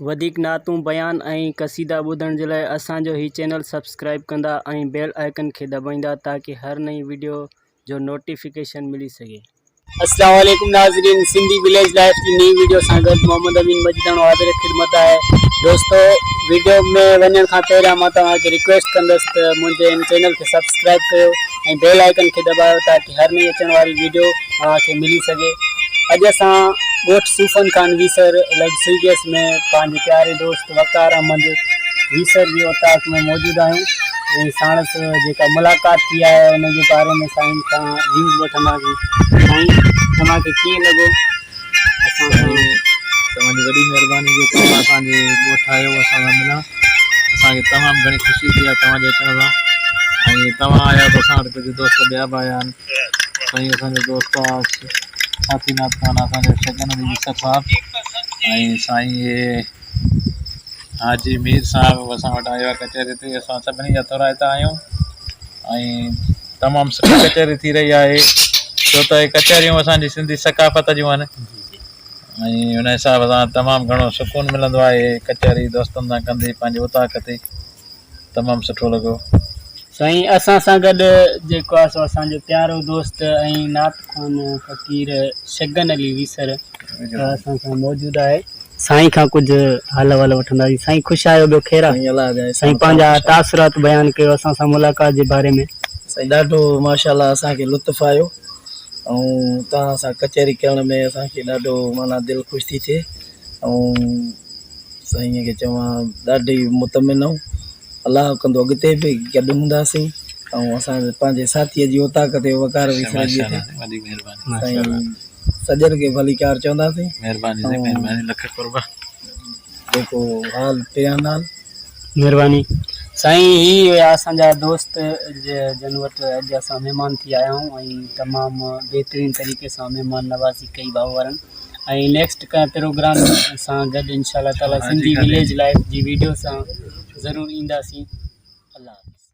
وڌيڪ نعتون، بيان ۽ قصيدا ٻڌڻ جي لاء اسان جو هي چينل سبسڪرائيب ڪندا ۽ بيل آئيڪن کي دٻائيندا تاڪه هر نئين وڊيو جو نوٽيفڪيشن ملي سگهي. السلام عليڪم ناظرين سنڌي وليج لائف جي نئين ويڊيو سان گڏ محمد امين مجيداڻو حاضر خدمت آهي دوستو ويڊيو ۾ وڃڻ کان پهريان مان توهان کي رڪويسٽ ڪندس ته منهنجي ان چينل کي سبسڪرائيب ڪيو ۽ بيل آئيڪن کي دٻايو تاڪي گهر ۾ اچڻ واري ويڊيو اوهان کي ملي سگهي اڄ اسان ڳوٺ صوفن خان ويسر لڳ سي گيس ۾ پنهنجي پياري دوست وقار احمد ويسر جي اوطاق ۾ موجود آهيون ۽ ساڻس جيڪا ملاقات ٿي آهي ان جي باري ۾ سائين کان ويوز وٺنداسين سائين اوهان کي ڪيئن لڳو اسان کي توهان جي وڏي مهرباني جو توهان اسان جي ڳوٺ آيو اسان سان ملڻ اسان کي تمام گهڻي خوشي ٿي آهي توهان جي اچڻ سان ۽ توهان آيا اسان وٽ ڪجهه دوست ٻيا به آيا آهن سائين اسان جو دوست آس ساٿي ناٿ خان اسان جو شگن علي مصطفيٰ ۽ سائين اهي حاجي مير صاحب به اسان وٽ آيو آهي ڪچهري تي اسان سڀني جا ٿورائتا آهيون ۽ تمام سٺي ڪچهري ٿي رهي آهي ڇو ته هي ڪچهريون اسانجي سنڌي ثقافت جون آهن ۽ ان حساب سان تمام گهڻو سڪون ملندو آهي ڪچهري دوستن سان ڪندي پنهنجي اوطاق تي تمام سٺو لڳو. سائين اسان سان گڏ جيڪو آ سو اسان جو پيارو دوست ۽ نعت خوان فقير شگن علي ويسر اسان سان موجود آهي سائين کان ڪجھ حال احوال وٺنداسين سائين خوش آهيو ٻيو خير آ سائين پنهنجا تاثرات بيان ڪيو اسان سان ملاقات جي باري ۾. سائين ڏاڍو ماشاء الله اسان کي لطف آيو ۽ توهان سان ڪچهري ڪرڻ ۾ اسان کي ڏاڍو معنيٰ دل خوش ٿي ٿئي ۽ سائين کي چوان ڏاڍي مطمئن ھو الله ڪندو اڳتي به گڏ ھونداسين ۽ اسان پنهنجي ساٿي جي اوطاق تي وقار ويسي رهجي ٿي سائين سڄڻ کي ڀليڪار چونداسين ۽ جيڪو حال پيا نال مھرباني سائين ھي اسان جا دوست جن وٽ اڄ اسان مھمان ٿي آيا آھيون ۽ تمام بھترين طريقي سان مھمان نوازي ڪئي ڀائو وارن ۽ نيڪسٽ ڪنھن پروگرام سان گڏ انشاء الله تعالي سنڌي وليج لائف جي ويڊيو سان ضرور اينداسين الله حافظ